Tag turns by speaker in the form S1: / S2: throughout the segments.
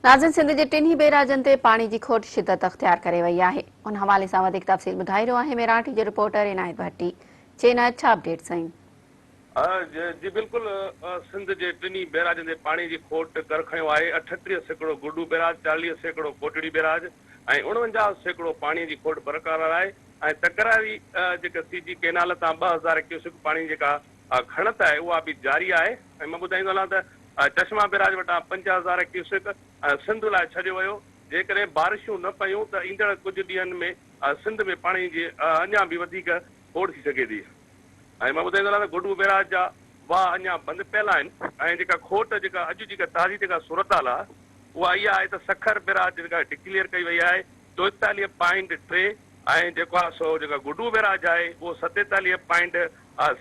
S1: ناظرين سنڌ جي ٽنهي بيراجن تي پاڻي جي کوٽ شدت اختيار ڪري وئي آهي ان حوالي سان وڌيڪ تفصيل ٻڌائي رهيو آهي ميراٽ جي رپورٽر عنايت ڀٽي جي عنايت ڇا اپڊيٽ سائين.
S2: جي بلڪل سنڌ جي ٽنهي بيراجن تي پاڻي جي کوٽ ڪر کنيو آهي اٺٽيهه سيڪڙو گڊو بيراج چاليهه سيڪڙو ڪوٽڙي بيراج ۽ اڻونجاهه سيڪڙو پاڻي جي کوٽ برقرار آهي ۽ تڪراري جيڪا سي جي ڪينال تان ٻه هزار ڪيوسڪ پاڻي جيڪا کڻت آهي اها به جاري آهي ۽ مان ٻڌائيندو هلان ته چشما بيراج وٽان پنج هزار ڪيوسڪ سنڌ لاء ڇڏيو ويو، جيڪڏهن بارشون نه پيون ته ايندڙ ڪجهه ڏينهن ۾ سنڌ ۾ پاڻي جي اڃا به وڌيڪ کوڙ ٿي سگهي ٿي ۽ مان ٻڌائيندو هلان ته گڊو بيراج جا واهه اڃا بند پيل آهن. ۽ جيڪا کوٽ جيڪا اڄ جيڪا تازي جيڪا صورتحال آهي اها اها آهي ته سکر بيراج جيڪا ڊڪليئر ڪئي وئي آهي چوئيتاليهه پوائنٽ ٽي ۽ جيڪو آهي سو جيڪا گڊو بيراج آهي اهو ستيتاليهه پوائنٽ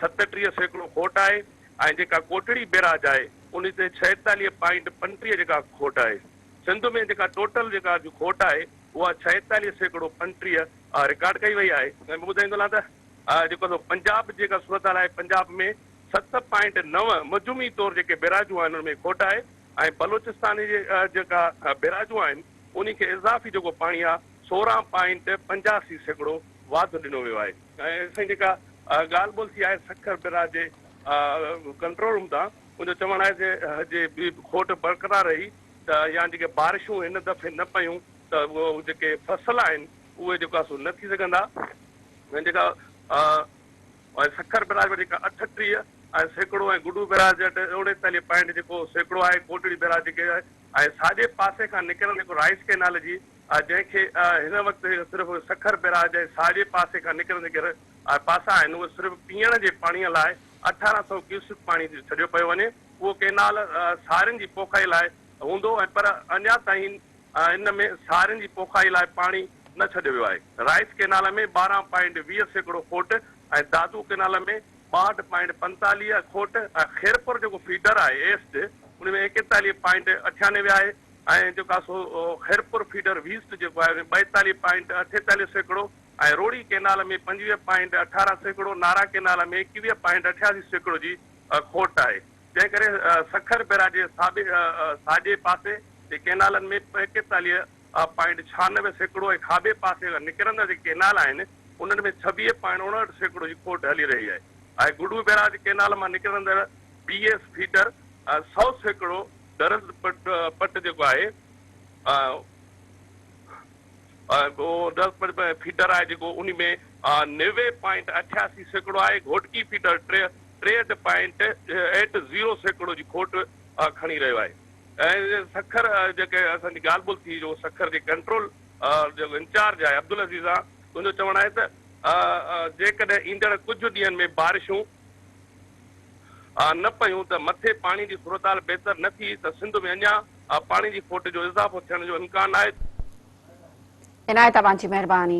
S2: ستٽيهه سيڪڙو کوٽ آهي ۽ جيڪا ڪوٽڙي بيراج آهي انهي تي ڇهيتاليهه پوائنٽ پنٽيهه جيڪا کوٽ آهي. سنڌ ۾ جيڪا ٽوٽل جيڪا جو کوٽ آهي اها ڇهيتاليهه سيڪڙو پنٽيهه رڪارڊ ڪئي وئي آهي. ۽ ٻيو ٻڌائيندو هلان ته جيڪو سو پنجاب جيڪا صورتحال آهي پنجاب ۾ ست پوائنٽ نو مجموعي طور جيڪي بيراجون آهن ان ۾ کوٽ آهي ۽ بلوچستان جي جيڪا بيراجون آهن انهي کي اضافي جيڪو پاڻي آهي سورهن پوائنٽ پنجاسي سيڪڙو واڌ ڏنو ويو آهي. سائين جيڪا ڳالهه ٻولهه ٿي آهي سکر براء جي ڪنٽرول روم تان ان جو چوڻ آهي ته جي کوٽ برقرار رهي ته يا جيڪي بارشون هن دفعي نه پيون ته اهو جيڪي فصل آهن اهي جيڪو آهي سو نه ٿي سگهندا ۽ جيڪا سکر براء وٽ جيڪا اٺٽيهه ۽ سيڪڙو ۽ گڊو براء وٽ اوڻيتاليهه پوائنٽ جيڪو سيڪڙو آهي ڪوٽڙي براء جيڪي ۽ ساڄي پاسي کان نڪريل جيڪو رائيس ڪئنال جي آء جنهن کي هن وقت صرف سکر بيراج جي ساڄي پاسي کان نڪرنديگر آء پاسا آهن اهي صرف پيئڻ جي پاڻيء لاء اٺارهن سؤ ڪيوسڪ پاڻي ڇڏيو پيو وڃي اهو ڪئنال سارين جي پوکائي لاء هوندو ۽ پر اڃا تائين ان ۾ سارين جي پوکائي لاء پاڻي نه ڇڏيو ويو آهي رائيس ڪئنال ۾ ٻارهن پوائنٽ ويهه سيڪڙو کوٽ ۽ دادو ڪئنال ۾ ٻاهٺ پوائنٽ پنتاليهه کوٽ ۽ خيرپور جيڪو فيڊر آهي ايسٽ ان ۾ ايڪيتاليهه پوائنٽ اٺيانوي آهي ۽ جيڪا سو خيرپور فيڊر ويسٽ جيڪو آهي سو ٻائيتاليهه پوائنٽ اٺيتاليهه سيڪڙو ۽ روهڙي ڪئنال ۾ پنجويهه پوائنٽ اٺارهن سيڪڙو نارا ڪئنال ۾ ايڪويهه پوائنٽ اٺياسي سيڪڙو جي کوٽ آهي جنهن ڪري سکر بئراج جي ساڀي ساڄي پاسي جي ڪئنالن ۾ ايڪيتاليهه پوائنٽ ڇهانوي سيڪڙو ۽ کاٻي پاسي نڪرندڙ جيڪي ڪئنال آهن انهن ۾ ڇويهه پوائنٽ اڻهٺ سيڪڙو جي کوٽ هلي رهي آهي ۽ گڊو بئراج ڪئنال مان نڪرندڙ بي ايس فيڊر سؤ سيڪڙو درند پٽ جيڪو آهي اهو درند پٽ ۾ فيڊر آهي جيڪو انهي ۾ نوي پوائنٽ اٺياسي سيڪڙو آهي گهوٽڪي فيڊر ٽيهٺ پوائنٽ ايٽ زيرو سيڪڙو جي کوٽ کڻي رهيو آهي ۽ سکر جيڪي اسان جي ڳالهه ٻولهه ٿي جو سکر جي ڪنٽرول جيڪو انچارج آهي عبدالعزيز آهي ان جو چوڻ آهي ته جيڪڏهن ايندڙ ڪجهه ڏينهن ۾ بارشون آ نه پيون ته مٿي پاڻي جي صورتحال بهتر نه ٿي ته سنڌ ۾ اڃا آ پاڻي جي کوٽ جو اضافو
S1: ٿيڻ
S2: جو امڪان آهي. عنايت اوهان
S1: جي
S2: مهرباني.